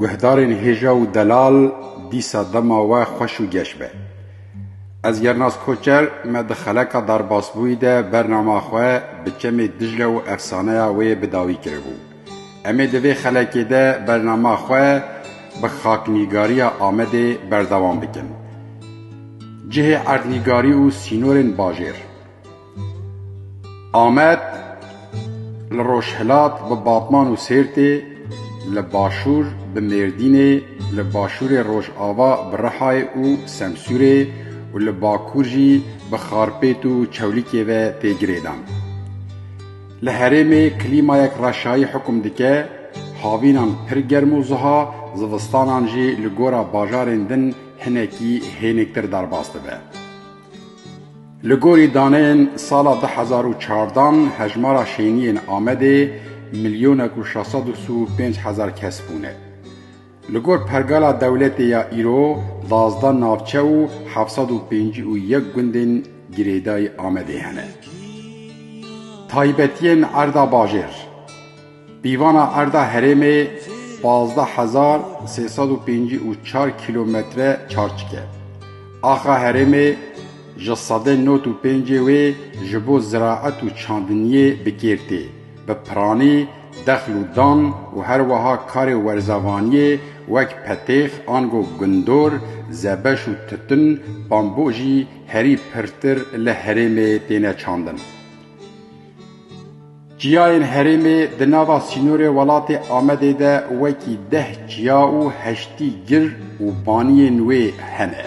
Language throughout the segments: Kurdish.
Guhdarên hêja û delal dîsa dema we xweş û geş be. Ez Yernaz Koçer me di xeleka derbasbûyî de bernama xwe bi çemê Dicla û efsaneya wê bi dawî kiribû. Em ê di vê xelekê de bernama xwe bi xaknîgariya Amedê berdewam bikin. Cihê erdnîgarî û sînorên bajêr. Amed li rojhilat bi Batman û Sêrtê, li başûr bi Mêrdînê, li başûrê rojava bi Rihayê û Semsûrê û li bakur jî bi Xarpêt û Çewlîkê ve tê girêdan. Li herêmê klîmayek reşayî hukum dike, havînan pir germ û ziha, zivistanan jî li gora bajarên din hinekî hênîktir derbas dibe. Li gorî daneyên sala du hezar û çardan hejmara şêniyên Amedê milyonek û şeş sed û pênc hezar kes bûne. Li gor pergala dewletê ya îro duwazdeh navçe û heft sed û pêncî û yek gundên girêdayî Amedê hene. Taybetiyên erda bajêr, Pîvana erda herêmê pazdeh hezar sê sed û pêncî û çar kîlometre çarçik e. Axa herêmê ji sedê nod û pêncê wê ji bo ziraet û çandiniyê bi kêr tê. Bi piranî, dexl û dan û her weha karê werzavaniyê wek petêx, ango gundor, zebeş û tutun, bambo jî herî pirtir li herêmê têne çandin. Çiyayên herêmê di nava sînorê welatê Amedê de wekî deh çiya û heştî gir û baniyên wê hene.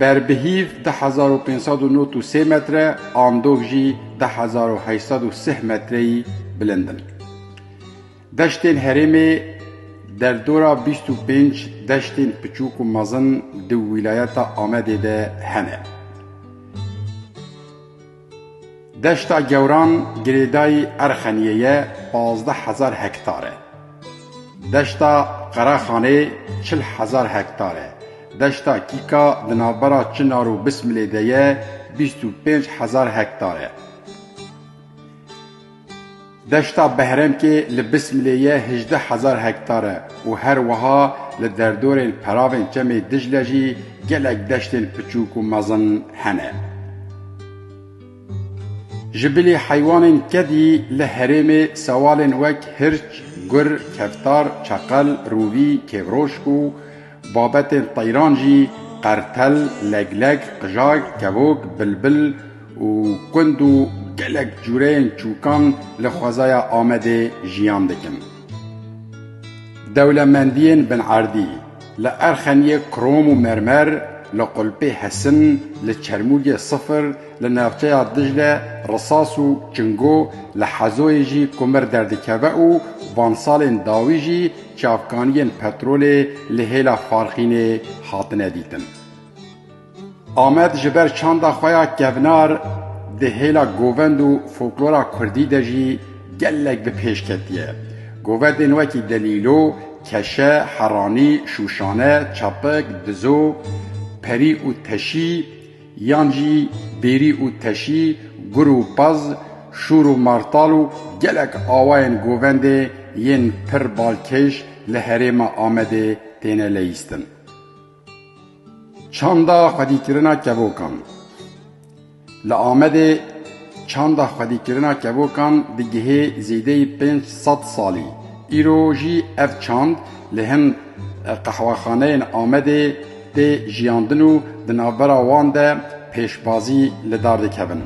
Ber bi hîv deh hezar û pênc sed û nod û sê metre an dov jî deh hezar û heşt sed û sih metreyî bilind in. Deştên herêmê derdora bîst û pênc deştên piçûk û mezin di wîlayeta Amedê de hene. Deşta Gewran girêdayî Erxeniyê ye pazdeh hezar hektar e. Deşta Qeraxanê çil hezar hektar e. Deşta Kîka di navbera Çinar û Bismilê de ye bîst û pênc hezar hektar e. Deşta Behremkê li Bismilê ye hejdeh hezar hektar e û her wiha li derdorên peravên çemê Dicle jî gelek deştên piçûk û mezin hene. Ji bilî heywanên kedî li herêmê sewalên wek hirç, gur, keftar, çeqel, rûvî, kêvrojk û. Babetên teyran jî qertel, legleg, qijay, kevok, bilbil û kund û gelek cûreyên çûkan li xwezaya Amedê jiyan dikin. Dewlemendiyên binerdî, li erxeniyê krom û mermer, li qulpê hesin, li çermûgê sifir, li navçeya Dicle risas û çingo, li Hezoyê jî kumir derdikeve û vansalên dawî jî, Çavkaniyên petrolê li hêla Farxînê hatine dîtin. Amed ji ber çanda xwe ya kevnar di hêla govend û foklora kurdî de jî gelek bi pêş ketiye. Govendên wekî Delîlo, Keşe, Heranî, Şûşane, Çapik, Dizo, Perî û Teşî Yan jî bêrî û teşî, gur û pez, şûr û martal û gelek awayên govendê yên pir balkêş li herêma Amedê têne leyîstin. Çanda xwedîkirina kevokan Li Amedê çanda xwedîkirina kevokan digihê zêdeyî pênc sed salî. Îro jî ev çand li hin qehwexaneyên Amedê, tê jiyandin û di navbera wan de pêşbazî li dar dikevin.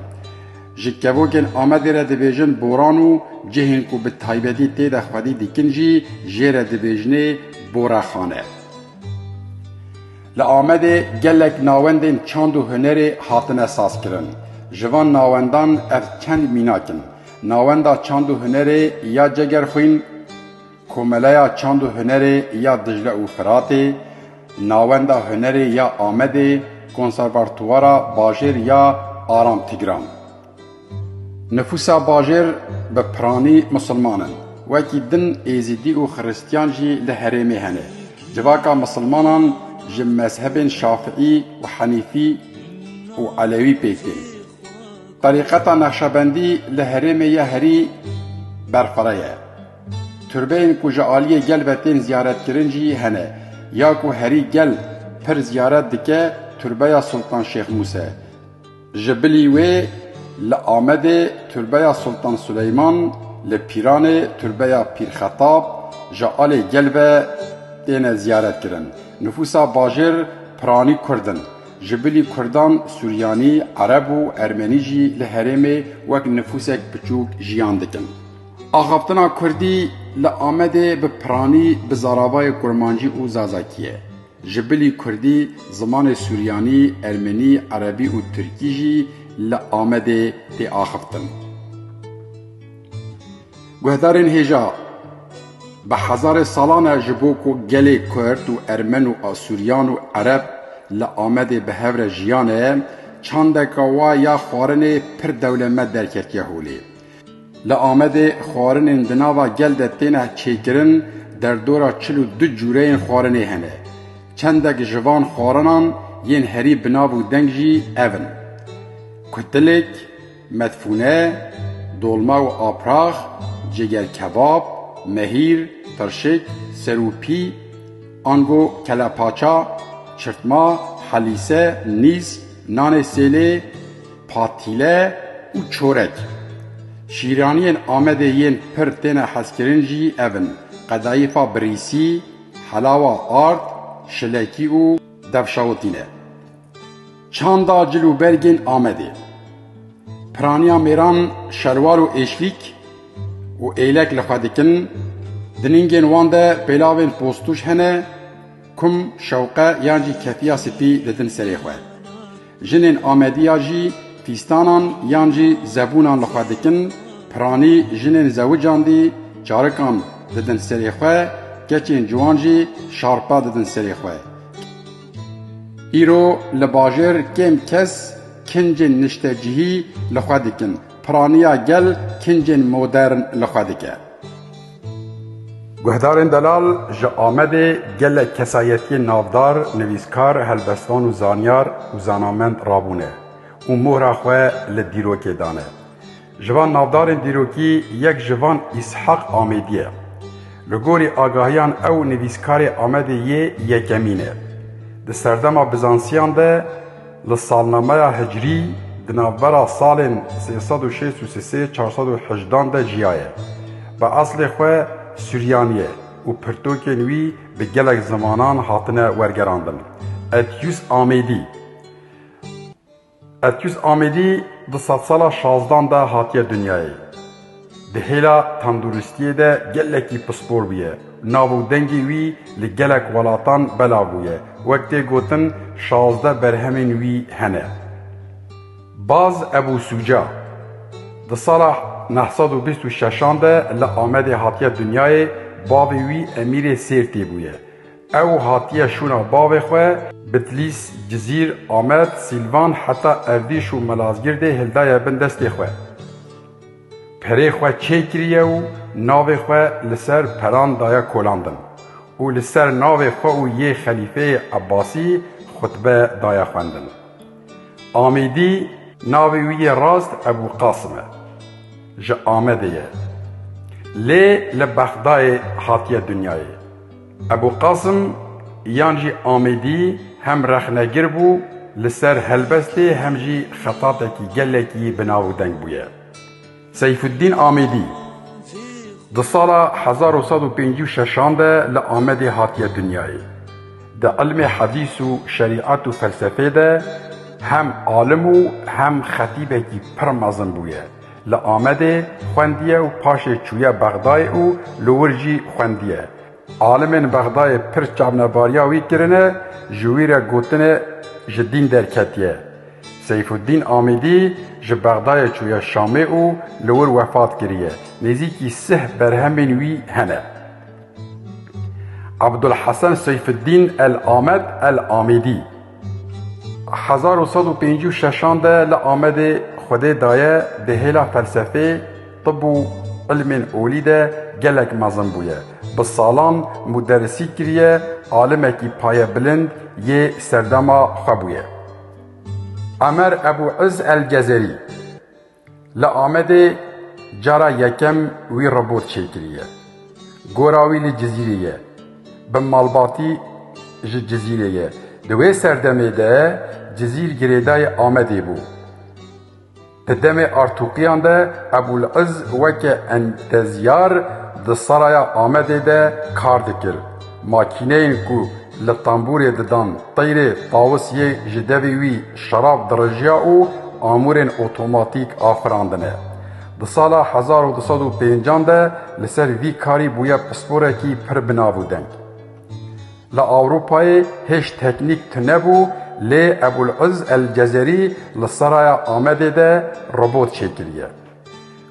Ji kevokên Amedê re dibêjin Boran û cihên ku bi taybetî tê de xwedî dikin jî jê re dibêjinê Borexane. Li Amedê gelek nawendên çand û hunerê hatine sazkirin. Ji van nawendan ev çend mînak in. Nawenda çand û hunerê ya Cegerxwîn, Komeleya Çand û Hunerê ya Dicle û Firatê, Nawenda Hunerê ya Amedê, Konservatuwara Bajêr ya Aram Tigran. Nifûsa bajêr bi piranî misilman in. Wekî din Êzîdî û Xiristîyan jî li herêmê hene. Civaka misilmanan ji mezhebên Şafiî û Henîfî û Elewî pêk tên. Terîqeta Neqşebendî li herêmê ya herî berfireh e. Turbeyên ku ji aliyê gel ve tên ziyaretkirin jî hene. Ya ku herî gel pir ziyaret dike Turbeya Sultan Şêx Mûse. Ji bilî wê li Amedê Turbeya Sultan Suleyman, li Pîranê Turbeya Pîr Xetab ji alê gel ve têne ziyaretkirin. Nifûsa bajêr piranî kurd in. Ji bilî kurdan suryanî, ereb û ermenî jî li herêmê wek nifûsek piçûk jiyan dikin. Axaftina kurdî li Amedê bi piranî bi zaravayê kurmancî û zazakî ye. Ji bilî kurdî, zimanê suryanî, ermenî, erebî û tirkî jî li Amedê tê axiftin. Guhdarên hêja bi hezarê salan e ji bo ku gelê kurd û ermen û asuryan û ereb li Amedê bi hev re jiyane, çandeka wa ya xwarinê pir dewlemed derketiye holê. Li Amedê xwarinên di nava gel de têne çêkirin, derdora çil û du cûreyên xwarinê hene. Çendek ji van xwarinan yên herî bi nav û deng jî ev in, Kutilêk, Medfûne, Dolma û Aprax, Cêgerkebab, Mehîr, Tirşik, Serûpî, ango Kelepaça, Çirtma, Helîse, Nîz, Nanê Sêlê, Patîle û çorek. Şîraniyên Amedê yên pir têne hezkirin jî ev in, qedayîfa birîsî, helawa ard, şilekî û devşawitî ne. Çanda cil û bergên Amedê. Piraniya mêran şelwar û êşvîk û êlek li xwe dikin, di ningên wan de pêlavên postûj hene, Kum şewqe yan jî ketiya spî didin serê xwe. Jinên Amedî ya jî fîstanan yan jî zebûnan li xwe dikin, piranî jinên zewican dî çarikan didin serê xwe, keçên ciwan jî şarpa didin serê xwe. Îro li bajêr kêm kes kincên niştecihî li xwe dikin, piraniya gel kincên modern li xwe dike. Guhdarên delal ji Amedê gelek kesayetiyên navdar, nivîskar, helbestan û zanyar û zanamend rabûne û mohra xwe li dîrokê dane. Ji van navdarên dîrokî yek ji van Îshak Amedî ye. Li gorî agahiyan ew nivîskarê Amedê yê yekemîn e. Di serdema Bizansiyan de, Li salnameya hicrî di navbera salên sê sed û şêst û sê sê çar sed û hejdan de jiyaye. Bi eslê xwe Suryan ye û pirtokên wî bi gelek zimanan hatine wergerandin. Etyûs Amêdî Etyûs Amêdî di sedsala şazdan de hatiye dinyayê. Di hêla tenduristiyê de gelekî pispor bûye. Nav û dengê wî li gelek welatan belav bûye. Wek tê gotin şazdeh berhemên wî hene. Baz Ebû Sûca di sala neh sed û bîst û şeşan de li Amedê hatiye dinyayê, bavê wî Emîrê Sêrtê bûye. Ew hatiye şûna bavê xwe Bitlîs, Cizîr, Amed, Sîlvan heta Erdîş û Malazgirdê hildaye bin destê xwe. Perê xwe çêkiriye û navê xwe li ser peran daye kolandin û li ser navê xwe û yê xelîfeyê Ebasî xutbe daye xwendin. Amîdî navê wî yê rast Ebû Qasim e. Ji Amedê ye. Lê li Bexdayê hatiye dinyayê. Ebû Qasim yan jî Amêdî hem rexnegir bû li ser helbestê hem jî xetatekî gelekî bi nav û deng bûye. Seyfûddîn Amêdî di sala hezar û sed û pêncî û şeşan de li Amedê hatiye dinyayê. Di ilmê hedîs û şerîet û felsefê de hem alim û hem xetîbekî pir mezin bûye. Li Amedê xwendiye û paşê çûye Bexdayê û li wir jî xwendiye. Alimên Bexdayê pir çavnebariya wî kirine, ji wî re gotinê ji dîn derketiye. Seyfûddîn Amîdî ji Bexdayê çûye Şamê û li wir wefat kiriye. Nêzîkî sih berhemên wî hene. Abdulhesen Seyfûddîn El Amed El Amîdî. Hezar û sed û pêncî û şeşan de li Amedê Xwedê daye di hêla felsefê, tib û îlmên olî de gelek mezin bûye. Bi salan muderisî kiriye, alimekî payebilind yê serdema xwe bûye. Emer Ebû Îz El Cezerî. Li Amedê cara yekem wî robot çêkiriye. Gora wî li Cizîrê ye. Bi malbatî ji Cizîrê ye. Di wê serdemê de Cizîr girêdayê Amedê bû. Di demê artûqiyan de Ebûliz weke entezyar di Saraya Amedê de kar dikir. Makîneyên ku li tembûrê didan teyrê tawis yê ji devî wî şerab dirijiya û amûrên otomatîk a firandine. Di sala hezar û du sed û pêncan de li ser vî karî bûye pisporekî pir bi nav û deng. Li Ewropayê hêj teknîk tune bû lê Ebûl Îz El Cezerî li Seraya Amedê de robot çêkiriye.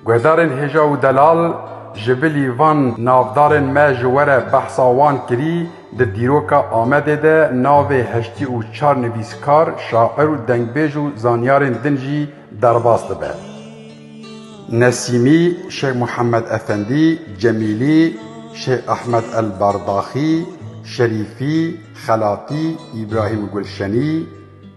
Guhdarên hêja û delal ji bilî van navdarên me ji we re behsa wan kirî, di dîroka Amedê de navê heştî û çar nivîskar, şair û dengbêj û zanyarên din jî derbas dibe. Nesîmî, Şêx Muhemed Efendî, Cemîlî, Şêx Ehmed El Bardaxî, Şerîfî, Xelatî, Îbrahîm Gulşenî,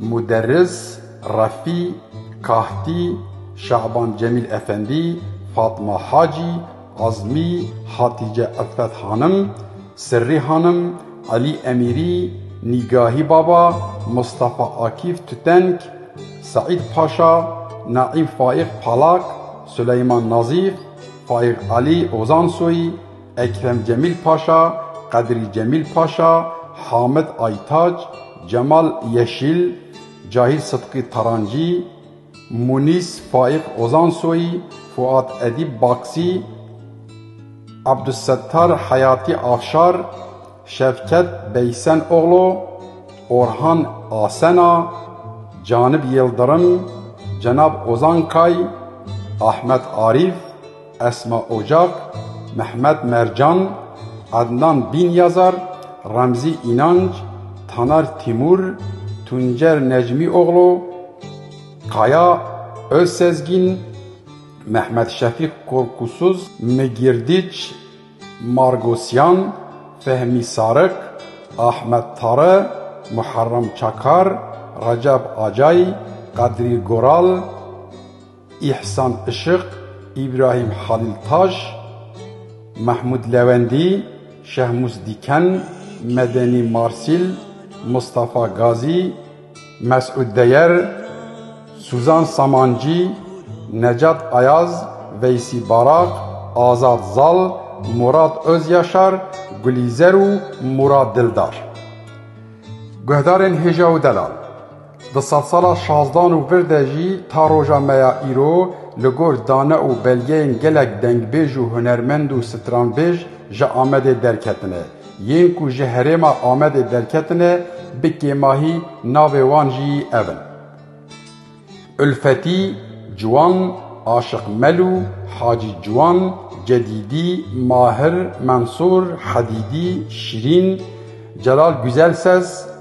Muderris, Refî, Kahtî, Şaban Cemîl Efendî, Fatma Hacî, Azmî, Hatîce Ilfet Hanim, Sirrî Hanim, Elî Emîrî, Nîgahî Baba, Mistefa Akîf Tütenk, Seîd Paşa, Naîm Faîq Palak, Suleyman Nazîf, Faîq Elî Ozansoyî, Ekrem Cemîl Paşa, Qedrî Cemîl Paşa, Hamid Aytac, Cemal Yeşîl, Cahîr Sidqî Tarancî, Munîs Faîq Ozansoyî, Fuat Edîb Baksî, Abdussettar Heyatî Afşar, Şevket Beysen Oglo, Orhan Asena, Canib Yildirim, Cenab Ozan Kay, Ahmet Arîf, Esma Ocak, Mehmet Mercan, Adnan Binyazar, Remzî Înanc, Taner Tîmur, Tuncer Necmîoglu, Kaya Ozsezgîn, Mehmet Şefîq Korkusuz, Migirdiç Margosyan, Fehmî Sarik, Ahmet Tare, Muharrem Çakar, Recep Acay, Qedrî Goral, Îhsan Işıq, Îbrahîm Halîltaş, Mehmûd Lewendî, Şehmûs Dîken, Medenî Marsîl, Mistefa Gazî, Mesûd Deyer, Sûzan Samancî, Necat Ayaz, Veysî Baraq, Azad Zal, Mûrad Ozyaşar, Gulîzer û Mûrad Dildar. Guhdarên Hêja û Delal. Di sedsala şazdan û vir de jî ta roja me ya îro li gor dane û belgeyên gelek dengbêj û hunermend û stranbêj ji Amedê derketine. Yên ku ji herêma Amedê derketine bi kêmahî navê wan jî ev in, Ulfetî, Ciwan, Aşiq Melû, Hacî Ciwan, Cedîdî, Mahir, Mensûr, Hedîdî, Şirîn, Celal Guzel Ses,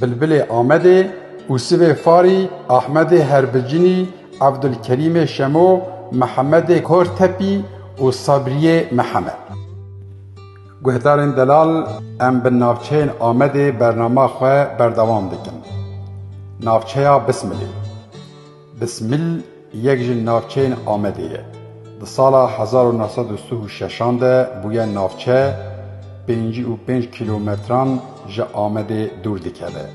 Bilbilê Amedê û sivê Farî, Ahmedê Herbicinî, Evdulkerîmê Şemo, Mihemedê Kortepî û Sabrîyê Mihemed. Guhdarên Delal em bi navçeyên Amedê bernama xwe berdewam dikin. Navçeya Bismilê. Bismil yek ji navçeyên Amedê ye. Di sala hezar û neh sed û sih û şeşan de bûye navçe, pêncî û pênc kîlometran ji Amedê dûr dikeve.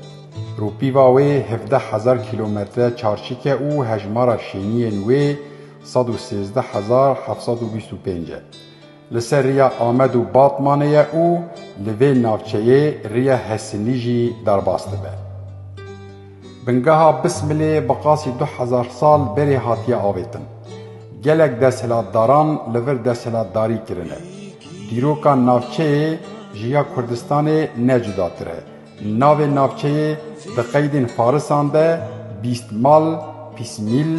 Rûpîva wê hevdeh hezar kîlometre çarçik e û hejmara şêniyên wê sed û sêzdeh hezar heft sed û bîst û pênc e. Li ser riya Amed û Batmanê ye û li vê navçeyê riya Hesinî jî derbas dibe. Bingeha Bismilê bi qasî du hezar sal berê hatiye avêtin. Gelek desthilatdaran li vir desthilatdarî kirine. Dîroka navçeyê ji ya Kurdistanê ne cudatir e. Navê navçeyê di qeydên farisan de Bîstmal, Pismîl,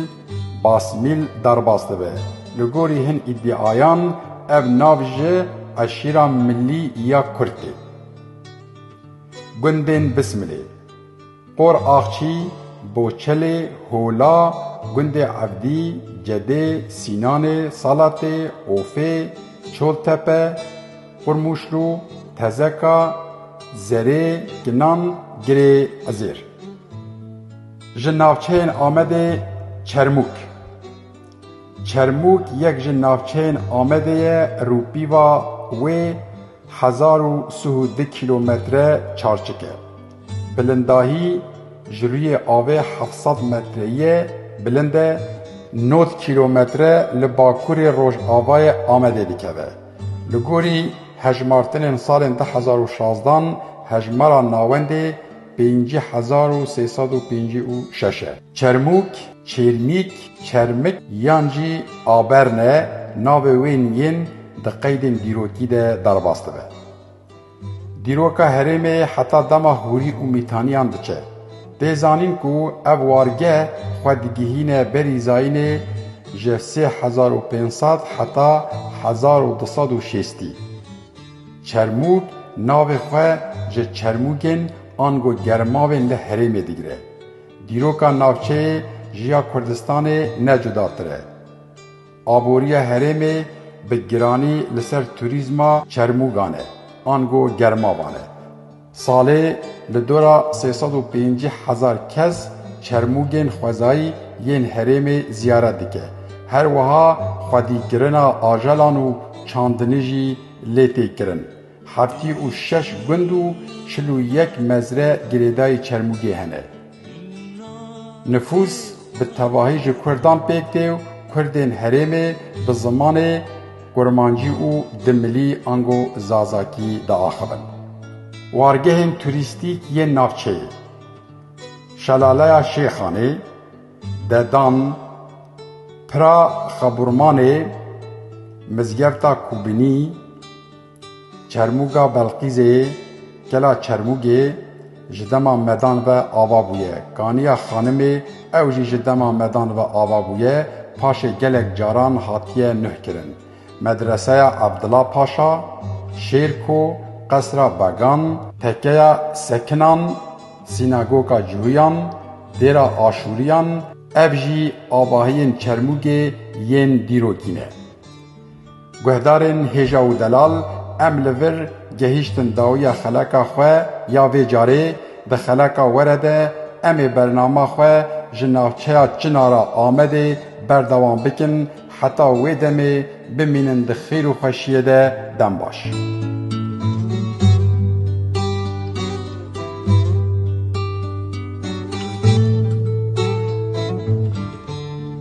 Basmîl derbas dibe. Li gorî hin îdiayan ev nav ji eşîra milî ya kurd tê. Gundên Bismilê, Por Axçî, Boçelê, Hola, Gundê Evdî, Cedê, Sînanê, Salatê, Ofê, Çoltepe, Xurmuşlu, Tezeka, Zerê, Ginan, Girê Ezêr. Ji navçeyên Amedê Çermûk. Çermûk yek ji navçeyên Amedê ye rûpîva wê hezar û sih û du kîlometre çarçik e. Bilindahî ji rûyê avê heft sed metreyî bilind e, nod kîlometre li bakurê rojavayê Amedê dikeve. Li gorî hejmartinên salên du hezar û şazdan hejmara navendê pêncî hezar û sê sed û pêncî û şeş e. Çermûk, Çêrmîk, Çermik yan jî Aberne navê wên yên di qeydên dîrokî de derbas dibe. Dîroka herêmê heta dema hûrî û mîtaniyan diçe. Tê zanîn ku ev wargeh xwe digihîne berî zayînê ji sê hezar û pênc sed heta hezar û du sed û şêstî. Çermûg navê xwe ji çermûgên ango germavên li herêmê digire. Dîroka navçeyê ji ya Kurdistanê ne cudatir e. Aboriya herêmê bi giranî li ser turîzma çermûgan e ango germavan e. Salê li dora sê sed û pêncî hezar kes çermûgên xwezayî yên herêmê ziyaret dike. Her wiha xwedîkirina ajelan û çandinê jî lê tê kirin. Heftî û şeş gund û çil û yek mezre girêdayî Çermûgê hene. Nifûs bi tevahî ji kurdan pêk tê û kurdên herêmê bi zimanê kurmancî û di milî ango zazakî diaxivin. Wargehên turîstîk yên navçeyê, Şelaleya Şêxanê, Dedan, Pira Xaburmanê, Mizgefta Kûbinî, Çermûga Belqîzê yê Kela Çermûgê ji dema medan ve ava bûye. Kaniya Xanimê ew jî ji dema medan ve ava bûye, paşê gelek caran hatiye nuhkirin. Medreseya Abdila Paşa, Şêrko, Qesra Began, Tekeya Sekinan, Sînagoka Cuhiyan, Dêra Aşûriyan ev jî avahiyên Çermûgê yên dîrokî ne. Guhdarên Hêja û Delal, Em li vir gehîştin dawiya xeleka xwe ya vê carê, di xeleka were de em ê bernama xwe ji navçeya Çinara Amedê berdewam bikin heta wê demê bimînin di xêr û xweşiyê de dem baş.